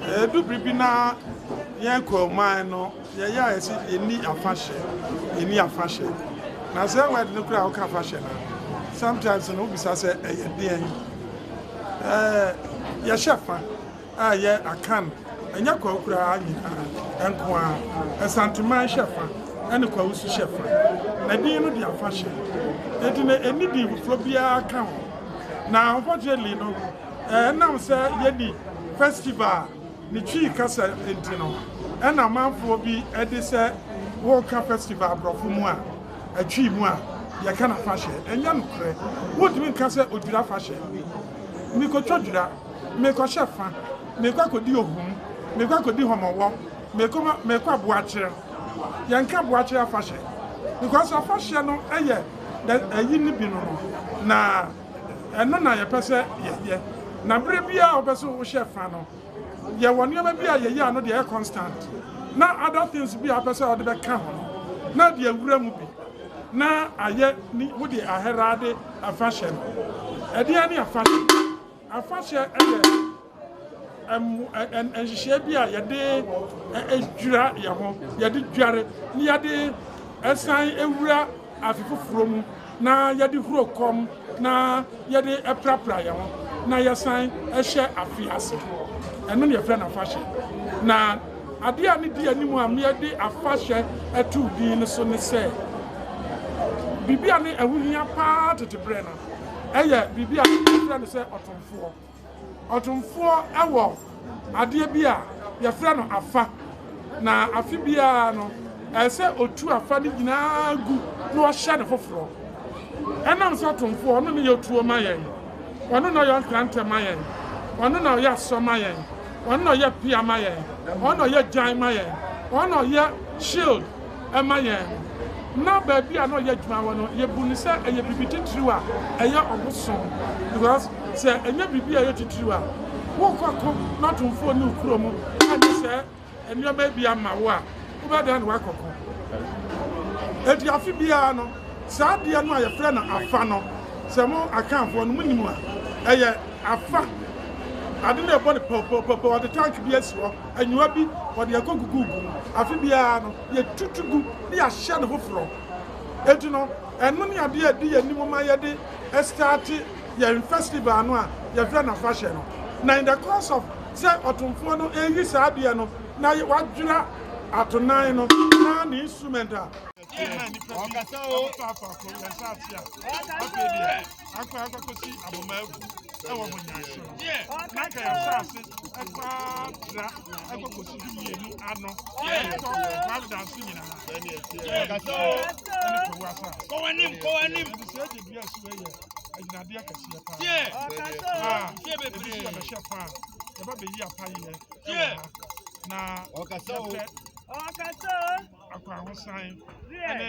Ɛdu bere bi na yɛn Kwauman no yɛyɛ a yɛsi yɛnni afahyɛ yɛnni afahyɛ na sɛ wɛd no kora a woka afahyɛ no sometimes no wobisa sɛ ɛyɛ deɛn ɛɛ yɛhyɛ fa a ɛyɛ Akan, ɛnyɛ Kwawokuraa nyinaa nko ara, Asanteman hyɛ fa ne Kwawo nso hyɛ fa, na din no de afa hyɛ. Enti na ɛnni din foforɔ biara ka ho. Na unfortunately no, ɛnam sɛ yɛnni festival a ne Twi kasa nti no, ɛna amanfoɔ bi de sɛ woreka festival aborɔfo mu a, Atwi mu a, yɛka no afahyɛ. Ɛnyɛ nokorɛ. Wontumi nka sɛ Odwira afahyɛ. Mekɔtwa Odwira. Merekɔhyɛ fa, merekɔ akɔdi ohum, merekɔ akɔdi hɔmɔwɔ, merekɔ ma merekɔ aboakyer. Yɛnka aboakyer afahyɛ because afahyɛ no yɛ dɛ ayi no bi no no na ɛno na yɛpɛ sɛ yɛyɛ na berɛ biara a wopɛ sɛ wohyɛ fa no yɛwɔ nneɛma bi a yɛyɛ a ɛno deɛ ɛyɛ constant na other things bi a wopɛ sɛ wode bɛka ho no na ɛde awura mu bi na ayɛ ni wode aherade afahyɛ no ɛdeɛn ne afahyɛ Afahyɛ yɛ nhyehyɛɛ bi a yɛde dwira yɛn ho, yɛde dware na yɛde san wura afe foforɔ mu na yɛde huro kɔm na yɛde prapra yɛn ho na yɛsan hyɛ afe ase. Ɛno na yɛfrɛ no afahyɛ. Na adeɛ a ne di anim a meyɛde afahyɛ ato din no so ne sɛ, biribi a ne ɛho hia paa tete berɛ no, yɛ biribi a yɛfrɛ no sɛ ɔtomfoɔ. Ɔtomfoɔ wɔ adeɛ bi a yɛfrɛ no afa, na afe biara no, ɛsɛ sɛ ɔtu afa no nyinaa gu na ɔhyɛ no foforɔ. Ɛnam sɛ ɔtomfoɔ, ɔno ne yɛ otuo ma yɛn, ɔno na ɔyɛ nkrantɛ ma yɛn, ɔno na ɔyɛ asɔ ma yɛn, ɔno na ɔyɛ pea ma yɛn, ɔno na ɔyɛ gyan ma yɛn, ɔno na ɔyɛ shield, ma yɛn no, na baabi a na ɔyɛ adwuma wɔ no, yɛbu no sɛ ɛyɛ biribi titiriw a ɛyɛ ɔbosom. Because sɛ ɛnyɛ biribi a ɛyɛ titiriw a, worekɔ ako n'atomfoɔ ne wo kurom ɛne sɛ nneɛma bi ama wo a, wobɛdan ne woakɔko. Enti afe biara no, saa adeɛ no a yɛfrɛ no afa no, sɛ mo akanfoɔ no monim a, ɛyɛ afa. Ade no ɛbɔ no pɔpɔpɔpɔ, wɔde tank bi asi hɔ. Anyiwa bi wɔde akogugu gu mu. Afe biara no, yɛtwitwi gu na yɛahyɛ no foforɔ. Enti no, ɛno ne adeɛ a ɛdi yɛn anim ma yɛde starte yɛn festival no a yɛfrɛ no afahyɛ no. Na in the course of sɛ ɔtomfoɔ no reyi saa adeɛ no na wadwera atonan no na ne instrument a, akora akɔkɔsi aboma agu ɛwɔ mo nyan so no na nka yɛ asase ɛkora tra akɔkɔsi du mmienu ano ɛkɔ providence nyinaa ɛne kɔwu asase kɔwanim kɔwanim ɛde sɛ ɛde dua so ɛyɛ agyinadeɛ kɛseɛ paa a ɛbi so yɛbɛhyɛ paa yɛba bɛyi apayɛ ɛwɔ ha na yɛpɛ akwahosan ɛne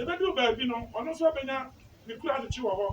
Ebedu baabi no, ɔno nso abenya ne kuradokye wɔ hɔ,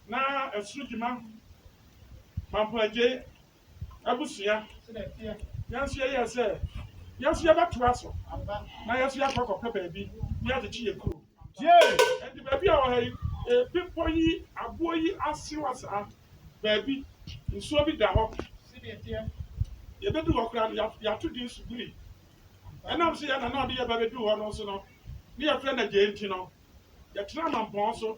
na ɛsoro gyima, Mampɔn Adjei, abusua yɛn nso yɛyɛɛ sɛ yɛn nso yɛbɛtoa so na yɛn nso yɛakɔ akɔpɛ baabi ne yɛde kye yɛn kuro. Yee, ɛnti baabi a wɔha yi, bepɔ yi, aboɔ yi ase wa saa, baabi nsuo bi da hɔ. Yɛbɛdu hɔ koraa no, yɛato din Subiri. Ɛnam sɛ yɛn na na ɔde yɛ ba bɛduu hɔ no nso no, ne yɛfrɛ no Agyei nti no, yɛtena mampɔn so.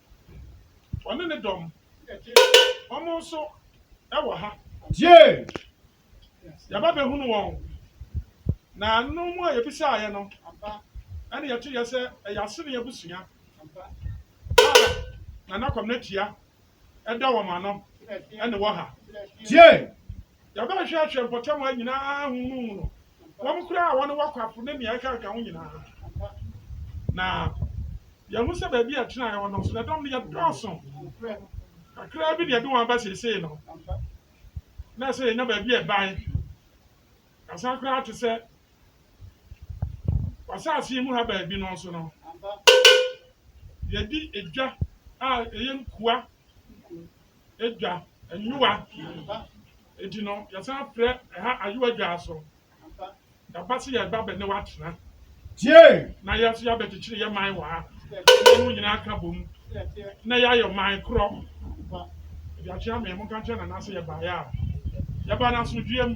Ɔne ne dɔm. Wɔn nso wɔ ha. Yee! Yɛaba bɛhunu wɔn. Na ɛno mu a yɛbisaeɛ no, ɛne yɛteeɛ sɛ ɛyɛ Asene abusua a Nana Kwamina Tua da wɔn ano ne wɔ ha. Yee! Yɛbɛhwehwɛ ahwɛ mpɔtam ha nyinaa ahunuu no, wɔn koraa a wɔne w'akwafo ne nea ɛkanka ho nyinaa. Na yɛahu sɛ baabi a ɛtenae hɔ no nso, ne dɔm no yɛ dɔɔso kakraa bi na yɛde wɔn aba seesei no. Na ɛsɛ sɛ yɛnya baabi a ɛban kasa koraa te sɛ w'asase yi mu ha baabi no nso no, yɛadi edwa a ɛyɛ nkua. dwa, nyowa. Enti no, yɛsan frɛ ɛha Ayowa Dwa so. Yɛaba sɛ yɛreba bɛ ne wo atena. Na yɛn nso yɛabɛkyekyere yɛn man wɔ ha. Na yɛn mu nyinaa aka bom na yɛayɛ ɔman korɔ. Ɛde akyɛ amee, monka nkyerɛ Nana sɛ yɛbaeɛ a, yɛba no asomdwoeɛ mu.